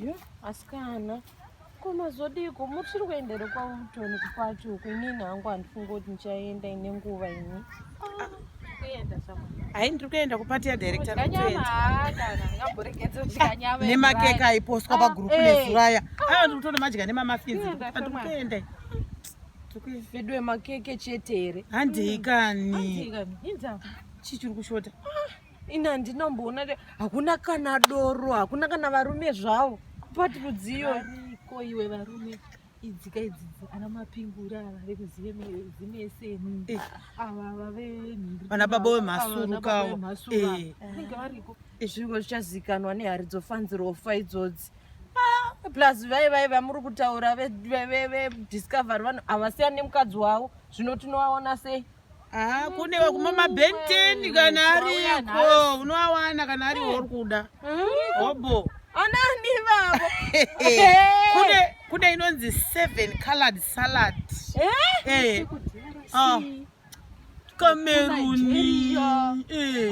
Yo, asikana ko mazodiko muchiri kuendere kwautoni kupacho uko inini hangu handifungi kuti ndichaenda ine nguva ini hai ndiri kuenda kupati yadirectornemakeke aipostwa pagurupu nezuraya aa ndiri kutoona madya nemamafinzi ndiri kuenda vedu wemakeke chete here handikani chii chiri kushota ah. ini handinomboona hakuna kana doro hakuna kana varume zvavo pati rudziyo ariko iwe varume idzika idzidzi ana mapingura ava vekuzimeseni eh. ava vave vana baba vemhasurukawo eh. vanenge variko eh. zvingo zvichazikanwa nehari dzofanzirofa idzodzi plus vai vai vamuri kutaura vediscovery vanhu havasiyani nemukadzi wavo zvino tinovaona sei Ah, kune kuma mabenteni kana ariko unoawana kana ari ori kuda hobo anani vavo kune kune inonzi seven colored salad eh? Eh. Oh. kameruni eh.